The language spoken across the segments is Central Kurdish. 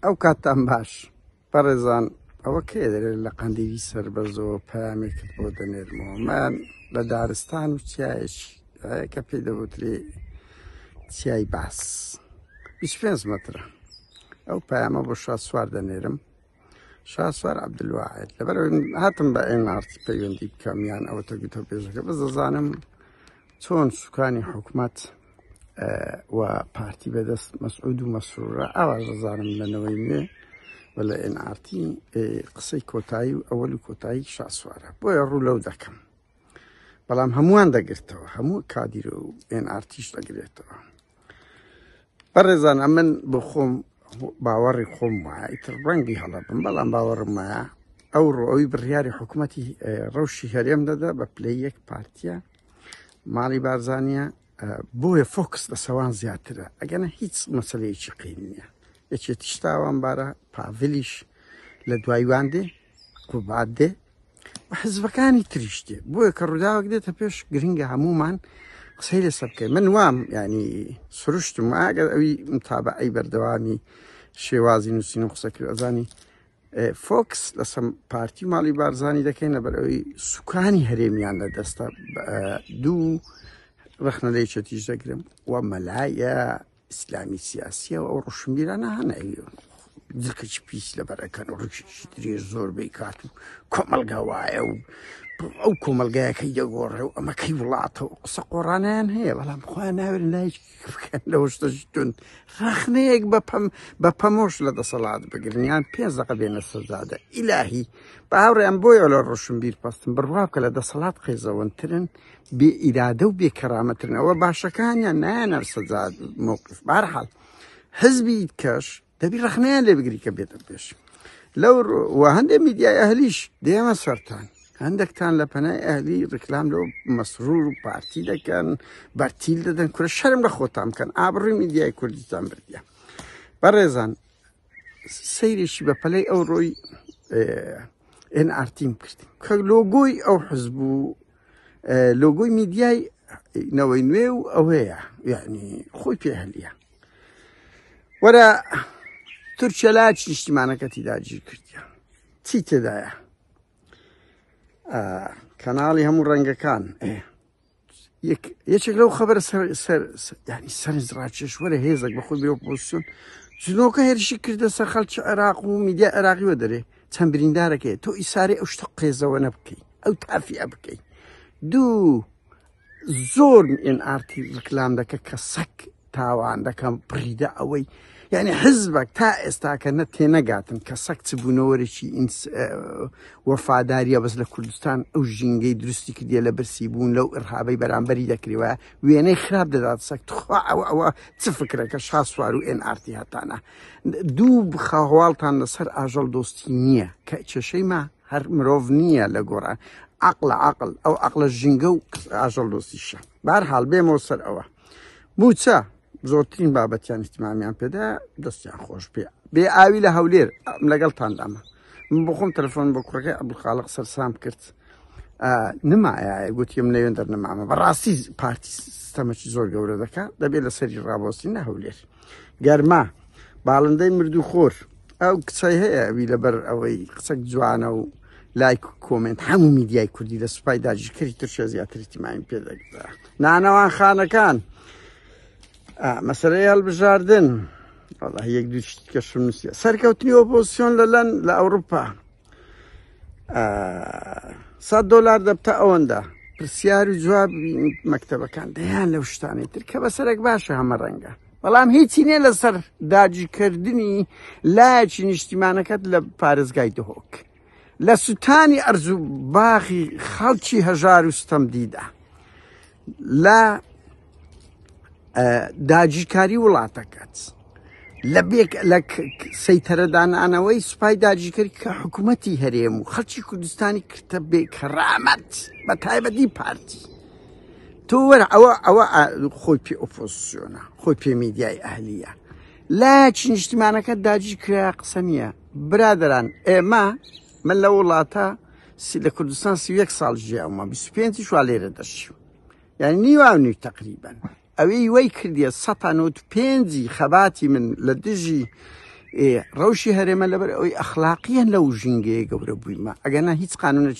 ئەو کاتتان باش بەڕێزان ئەوە کێ دەرێت لە قەندیلی سەر بە زۆر پامێکت بۆ دەنێرمەوە من لە دارستان و چایەکی کە پێی دەوترێ چیای باس 25 مترە ئەو پامە بۆ شاد سوار دەنێرم شاسوار عبدلواعد لەبەر هاتم بە ئێنارت پەیوەندی بکەم یان ئەوە تە گوتە پێشەکە بە دەزانم چۆن سوکانی حکومت و پارتی بەدەست مەسعود و مەسرورە ئاوا دەزانم لەنەوەی نوێ و لە ئێنارتی قسەی کۆتایی و ئەوەل و کۆتایی شاسوارە بۆیە ڕوو لەو دەکەم بەڵام هەمووان دەگرتەوە هەموو کادیرە و ئێنارتیش دەگرێتەوە بەڕێزان ئەمن بۆ خۆم باوەڕی خۆم وایە ئیتر ڕەنگی هەڵە بم بەڵام باوەڕم وایە ئەو ڕۆی بڕیاری حکوومەتی ڕەوشی هەرێم دەدا بە پلەی یەک پارتیە ماڵی بارزانە بۆیە فۆکس لە سەوان زیاترە ئەگەنە هیچ مەسلەیەکی قین نییە یەکێتیشتاوان بارە پاڤلیش لە دوایوان دێ قوبات دێ و حزبەکانی تریش دێ بۆیە کە ڕووداوێک دێتە پێش گرنگە هەمومان قسەی لەسەر بکەین من وام ینی سروشتم ئاگەر ئەوی متابعی بەردەوامی شێوازی نووسین و قسەکرد ئەزانی فۆکس لەسم پارتی ماڵی بارزانانی دەکەین لەبەر ئەوی سوکانی هەرێمیان لە دەستە دوو ڕخنە لەیچەتیش دەگرم و مەلایە ئیسلامی سیاسیە و ئەو ڕۆشنبیرانە هەناوی دکەچ پیس لەبەرەکەن و ڕکیشی درێ زۆر بیکات و کۆمەلگا وایە و ئەو کۆمەلگایەکەی دەگۆڕێ و ئەمەکەی وڵاتە و قسە قۆڕانیان هەیە بەڵام خۆیان ناوێن لای بکەن لە شتەشتون ڕخنەیەک بەپەم بە پەمۆش لە دەسەڵات بگرنیان پێنج دەقە بێنە سەزادە ئیلاهی باوڕیان بۆیە لە ڕۆشنبیر پستن بڕوا بکە لە دەسەڵات قێزەوەنترن بێ ئیرادە و بێ کەرامەترن ئەوە باشەکانیان نایەنەر سەجا مووقف بارحال حزبی کەش دەبی ڕخنەیان لێ بگری کە بێتە پێش لەو و هەندێک میدیای ئەهلیش دێمە سەران هەندێکتان لە پەنای ئەهلی ڕیکلام لەو مەسرور و پارتی دەکەن بەرتیل دەدەن کورە شەرم لە خۆتان بکەن ئابڕی میدیای کوردستان بردە بەڕێزان سەیرێکی بە پەلەی ئەو ڕۆی ئێن ئارتیم کرد کە لۆگۆی ئەو حزب و لۆگۆی میدیای نەوەی نوێ و ئەوەیە یعنی خۆی پێ هەلیە وەرە تورکیا لا چ نیشتیمانەکەتی داگیر کردیان چی تێدایە کەناڵی هەموو ڕەنگەکان یەکێک لەو خەبەر ینی سەرنج ڕاکێش وەرە هێزێک بە خۆی بۆپۆسیون جنۆکە هێرشی کردە سەر خەڵکی عێراق و میدیا عێراقیوە دەرێ چەند بریندارەکەی تۆ ئیساری ئەو شتە قێزەوە نە بکەیت ئەو تافیە بکەی دوو زۆر ئێن ئارتی ڕکلام دەکە کە سەک تاوان دەکەم پڕیدە ئەوەی یعنی حزبك تا ئێستاکە نە تێنەگاتن کە سەک چ بوونەوەرێکی وەفاداریە بەس لە کوردستان ئەو ژینگەی درستی کردە لە برسی بوون لەو ئرهابەی بەرامبەری دەکرێوە وێنەی خراپ دەدات سەک تخوا ئەوە ئەوە چ فکرەکە شاسوار و ئێن ئارتی هەتانە دوو بخەهواڵتان لەسەر ئاژەڵ دۆستی نییە کە کێشەی ما هەر مرۆڤ نییە لە گۆڕان عقلە عقل ئەو عقلە ژینگە و ئاژەڵ دۆستیشە بارحاڵ بێمەوە سەر ئەوە موچە زۆرترین بابەتیان احتمامیان پێدا دەستیان خۆش پێ بێ ئاوی لە هەولێر لەگەڵ تاندامە من بخۆم تەلفۆن بە کوڕەکە عبدخاڵق سەرسام کرد نمایە گوتیم نەوێن دەرنەمامە بەڕاستی پارتی سیستەمەکی زۆر گەورە دەکات دەبێت لە سەری ڕابۆستی نە هەولێر گەرما باڵندەی مردو خۆر ئەو کچای هەیە ئەوی لەبەر ئەوەی قسەک جوانە و لایک و کۆمنت هەموو میدیای کوردی لە سوپای داژکردی ترشە زیاتری تیمایم پێدەگدا نانەوان خانەکان مەسەرەی هەڵبژاردن یەک دوو کەشم نووسە سەرکەوتنی ئۆپۆسیۆن لە لەن لە ئەوروپا سەد دلار دەبتە ئەوەندە پرسیار و جواب مەکتتەبەکان دەیان لەو شتانی تر کە بە سەرێک باشە هەمە ڕەنگە بەڵام هیچی نیە لەسەر داجیکردنی لایەکی نیشتیمانەکەت لە پارێزگای دهۆک لە سووتانی ئەرزوو باخی خەڵکی هەژار و ستەم دیدا لە داجیکاری وڵاتەکەت لە بێک لە سەیتەرەدانانەوەی سوپای داجیکرد کە حکوومەتتی هەرێم و خەڵکی کوردستانی کردە بێ کەڕامەت بە تایبەتی پارتی تۆ وەرە ئەوە ئەوە خۆی پێ ئۆپۆسیۆنە خۆی پێ میدیای ئەهلیە لایەکی نیشتیمانەکە داجی کرا قسە نییە برادران ئێمە من لە وڵاتە سی لە کوردستان سی یەک ساڵ ژیاومە بیست پێنجی شوا لێرە دەشی یعنی نیوان نوی تقریبن ئەوەی وەی کردیە سەتان و پێنجی خەباتی من لە دژی ڕەوشی هەرێمە لەبەر ئەوی ئەخلاقیان لەو ژینگەیە گەورە بوویمە ئەگەنا هیچ قانونە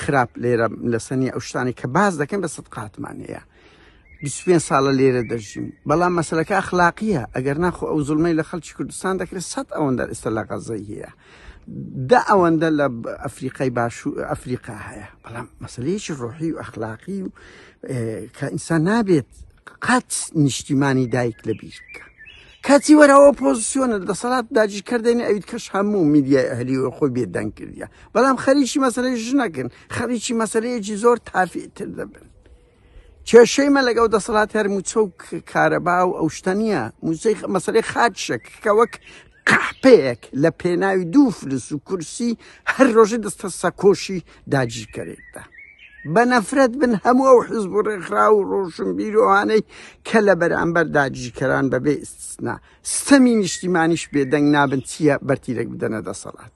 خراپ لێرە لەسەنی ئەو شتانی کە باز دەکەن بە سەد قاتمانەیە بیست و پێنج ساڵە لێرە دەژیم بەڵام مەسلەکە ئەخلاقیە ئەگەر ناخۆ ئەو زلمەی لە خەڵکی کوردستان دەکرێت سەد ئەوەندە ئێستا لە غەزەی هەیە دا ئەوەندە لە ئەفریقای باش و ئەفریقا هەیە بەڵام مەسلەیەکی ڕۆحی و ئەخلاقی و کە ئینسان نابێت قەت نیشتیمانی دایک لە بیر بکە کاتی وەرەوە پۆزیسیۆنە دەسەڵات داجیکردێنی ئەویت کەش هەموو میدیای ئەهلی و خۆی بێدەنگ کردە بەڵام خەریکی مەسلەی ژنەکن خەریکی مەسلەیەکی زۆر تافیتر دەبن کێشەی مە لەگەڵ دەسەڵات هەر موچە و کارەبا و ئەو شتە نییە موچەی مەسەری خاچشێک کە وەک قەحپەیەک لە پێناوی دوو فلس و کورسی هەر ڕۆژی دەستە سەکۆشی داگیرکەرێکدا بە نەفرەت بن هەموو ئەو حزب و ڕێکخرا و ڕۆشن بیرۆوانەی کە لە بەرامبەر داگیرکەران بەبێ ئستنا ستەمی نیشتیمانیش بێدەنگ نابن چییە بەرتیرێک بدەنە دەسەڵات.